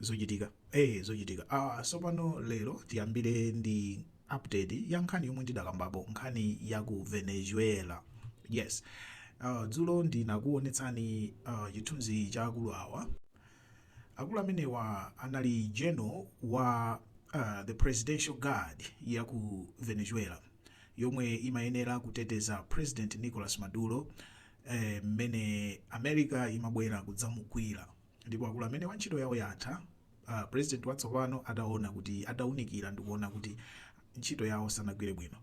Zochitika, ee zochitika. Aaa tsopano lero tiyambire ndi update ya nkhani yomwe ndidakambapo nkhani ya ku Venezuela. Yes. Uh, dzulo ndinakuonetsani uh, chithunzi cha akulu awa. Akulu amenewa anali general wa uh, the presidential guard ya ku Venezuela yomwe imayenera kuteteza President Nicolas Maduro eh, mmene eh, America imabwera kudzamugwira Ndipo akulu amenewa ntchito yawo yatha, a President watsopano ataona kuti, ataunikira ndikuona kuti ntchito yawo sanagwire bwino.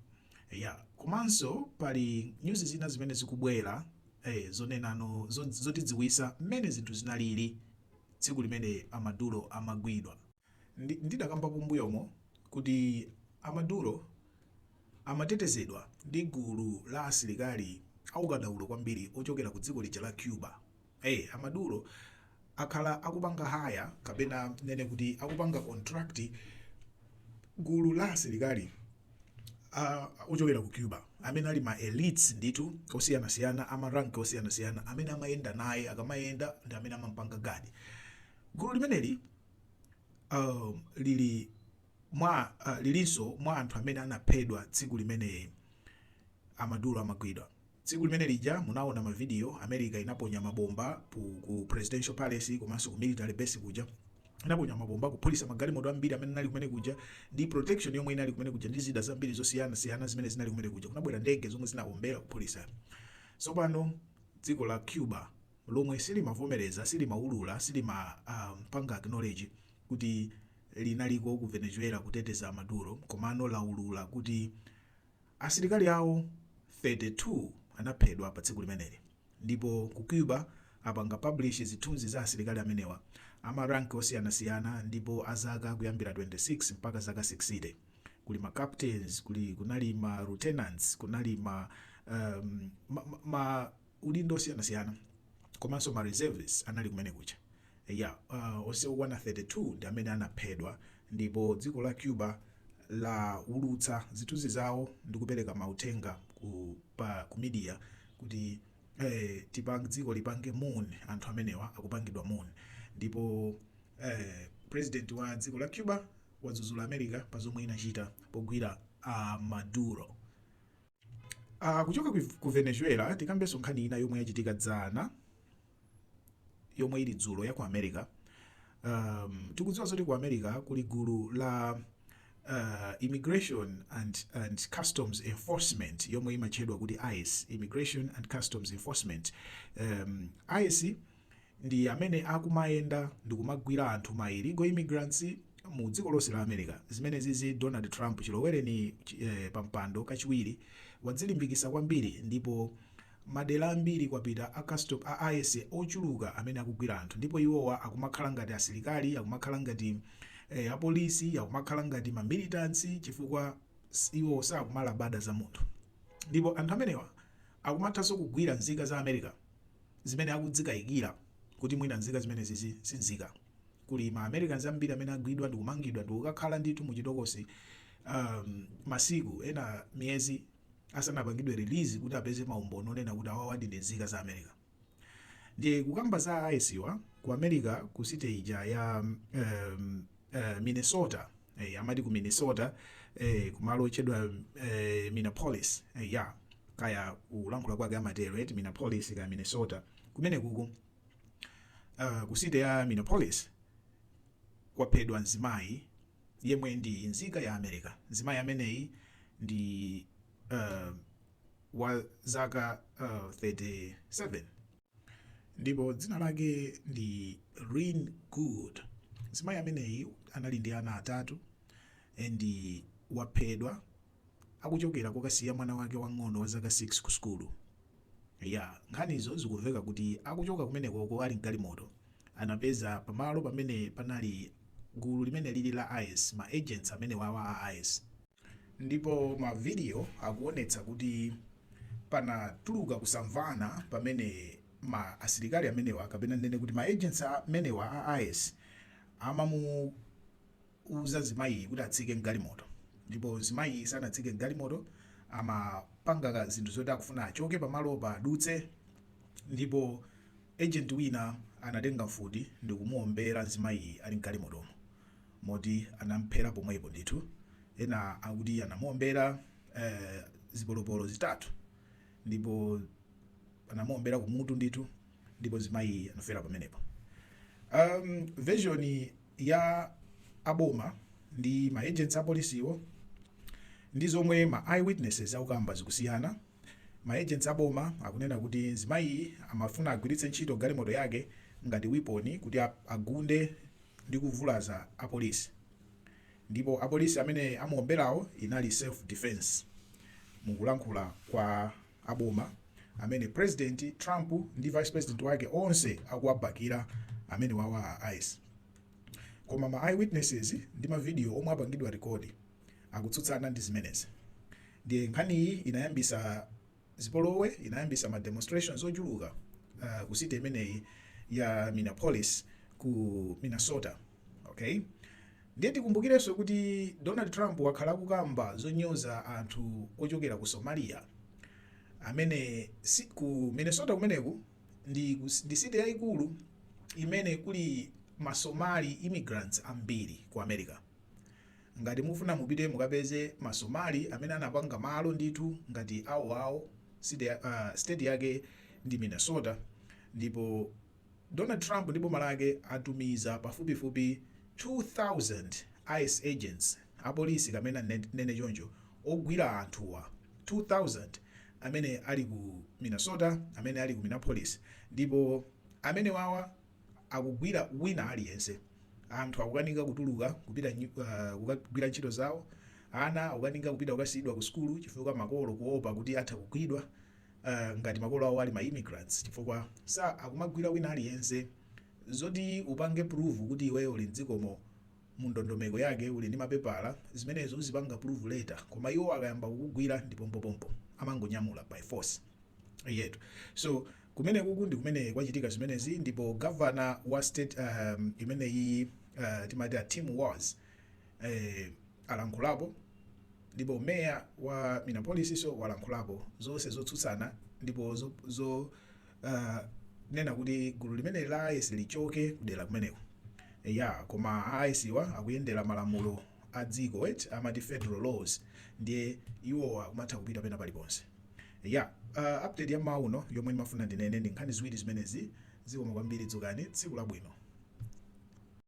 Eya, komanso pali news zina zimene zikubwera eh, zonenano, zotidziwisa mmene zinthu zinalili tsiku limene a Maduro amagwidwa. Ndi, ndidakambapo mbuyomo kuti a Maduro amatetezedwa ndi gulu la asilikali aukadaulo kwambiri ochokera ku dziko lija la Cuba. Eee a Maduro akhala akupanga hire kapena tinene kuti akupanga contract gulu la asilikali ochokera ku Cuba amene ali ma elites ndithu osiyanasiyana a ma rank osiyanasiyana amene amayenda naye, akamayenda ndi amene amamupanga guard. Gulu limeneli lili mwa, lilinso mwa anthu amene anaphedwa tsiku limene a Maduro amagwidwa. Tsiku limene lija munaona ma video America inaponya ma bomba ku ku presidential palace komanso ku military base kuja inaponya ma bomba kuphulisa magalimoto ambiri amene anali kumene kuja ndi protection yomwe inali kumene kuja ndi zida zambiri zosiyanasiyana zimene zinali kumene kuja kunabwera ndege zomwe zinaombera kuphulisa tsopano dziko la Cuba lomwe silimavomereza silimaulula silimapanga um, acknowledge kuti linaliko ku Venezuela kuteteza Maduro komano laulula kuti Asilikali awo 32 anaphedwa pa tsiku limeneli. Ndipo ku Cuba apanga publish zithunzi za asilikali amenewa a ma rank osiyanasiyana ndipo a zaka kuyambira 26 mpaka zaka 60. Kuli ma captains, kuli kunali ma lieutenants, kunali ma, um, ma, ma, ma. maudindo osiyanasiyana komanso ma reservists anali kumene kuja eya onse okwana 32 ndi amene anaphedwa ndipo dziko la Cuba laulutsa zithunzi zawo ndi kupereka mauthenga ku pa ku media kuti tipang dziko lipange mourn anthu amenewa akupangidwa mourn ndipo president wa dziko la Cuba wadzuzula America pa zomwe inachita pogwira a Maduro. Uh, kuchoka ku Venezuela tikambenso nkhani ina yomwe yachitika dzana yomwe ili dzulo ya ku America. Um, tikudziwa zoti ku America kuli gulu la uh, Immigration and, and Customs Enforcement yomwe imatchedwa kuti ICE, Immigration and Customs Enforcement. Um, ICE ndi amene akumayenda ndikumagwila anthu ma illegal immigrants mu dziko lonse la America zimenezizi Donald Trump chiloweleni pa mpando kachiwiri wadzilimbikisa kwambiri ndipo madela ambiri kwapita a customs a ICE ochuluka amene akugwila anthu ndipo iwowa akumakhala ngati asilikali akumakhala ngati a police akumakhala ngati ma militants chifukwa iwowa sakumalabada za munthu ndipo anthu amenewa akumathanso kugwila nzika za America zimene akuzikayikira kuti mwina nzika zimenezizi si nzika. Kuli ma Americans ambiri amene agwidwa ndi kumangidwa ndi kukakhala ndithu mu chitokosi um, masiku ena miyezi asanapangidwe release kuti apeze maumboni onena kuti awawadi ndi nzika za America. Ndiye kukamba za a ICE-wa ku America ku city ija ya um, uh, Minnesota eh, amati ku minnesota eh, kumalo otchedwa eh, minneapolis eh, ya kaya kulankhula kwake amatero eti minneapolis kaya minnesota kumene kuku uh, ku city ya minneapolis kwaphedwa mzimayi yemwe ndi mzika ya america mzimayi ameneyi ndi uh, wa zaka uh, 37 ndipo dzina lake ndi Renee Good. Mzimayi ameneyi anali ndi ana atatu and waphedwa akuchokera kokasiya mwana wake wang'ono wa zaka 6 ku sukulu. Ya, nkhanizo zikumveka kuti akuchoka kumenekoko ali mgalimoto anapeza pamalo pamene panali gulu limene lili la ICE, ma agents amenewawa a ICE. Ndipo mavidiyo akuonetsa kuti panatuluka kusamvana pamene ma asilikali amenewa kapena ndinene kuti ma agents amenewa a ice amamuuza mzimayiyi kuti atsike mgalimoto ndipo mzimayiyi sanatsike mgalimoto amapanga zinthu zoti akufuna achoke pamalopa adutse ndipo agent wina anatenga mfuti ndikumuombera mzimayiyi ali mgalimotomo. moti anamphera pomwepo ndithu ena akuti anamuombera eh, zipolopolo zitatu ndipo anamuombera kumutu ndithu ndipo mzimayi anafera pamenepo um, version ya aboma ndi ma agents apolisiwo ndi zomwe ma eyewitnesses akukamba zikusiyana Ma agents a boma akunena kuti mzimayiyi amafuna agwiritse ntchito galimoto yake ngati weapon kuti agunde ndi kuvulaza apolisi. Ndipo apolisi amene amuomberawo inali self defense mukulankhula kwa a boma amene president Trump ndi vice president wake onse akuwabakira amenewawa a ice. Koma ma eyewitnesses ndi ma video omwe apangidwa record. akutsutsana ndi zimenezi ndiye nkhaniyi inayambisa zipolowe inayambisa ma demonstrations ochuluka uh, ku city imeneyi ya minneapolis ku minnesota okay ndiye tikumbukirenso kuti donald trump wakhala akukamba zonyoza anthu ochokera ku somalia amene si, ku minnesota kumeneku ndi, kus- ndi city yayikulu imene kuli masomali immigrants ambiri ku america Ngati mufuna mupite mukapeze ma somali amene anapanga malo ndithu ngati awoawo state yake ndi Minnesota ndipo Donald Trump ndi boma lake atumiza pafupifupi 2000 ice agents apolisi kapena ndinene choncho ogwira anthuwa 2000 amene ali ku Minnesota amene ali ku Minneapolis ndipo amenewawa akugwira wina aliyense. Anthu akukanika kutuluka kupita kukagwira ntchito zawo, ana akukanika kupita kukasiyidwa ku sukulu chifukwa makolo kuopa kuti atha kugwidwa ngati makolo awo ali ma immigrants chifukwa akumagwira wina aliyense. Zoti upange prove kuti iweyo uli m'dzikomo mu ndondomeko yake uli ndi mapepala, zimenezo uzipanga prove later koma iwo akayamba kukugwira ndi pompopompo, amangonyamula by force. Eyetu. So. Kumenekuku ndi kumene kwachitika zimenezi ndipo governor wa state um, imeneyiyi uh, timati a Tim Walz eh, alankhulapo ndipo meya wa Minneapolis so walankhulapo zonse zotsutsana ndipo zo, zo uh, nena kuti gulu limeneli la ICE lichoke kudera kumeneko ya koma a ICE wa akuyendera malamulo a dziko amati federal laws ndiye iwowa akumatha kupita pena paliponse Yap, update ya mmawa uno yomwe ndimafuna ndinene ndi nkhani ziwiri zimenezi. Zikomo kwambiri, dzukani, tsiku labwino.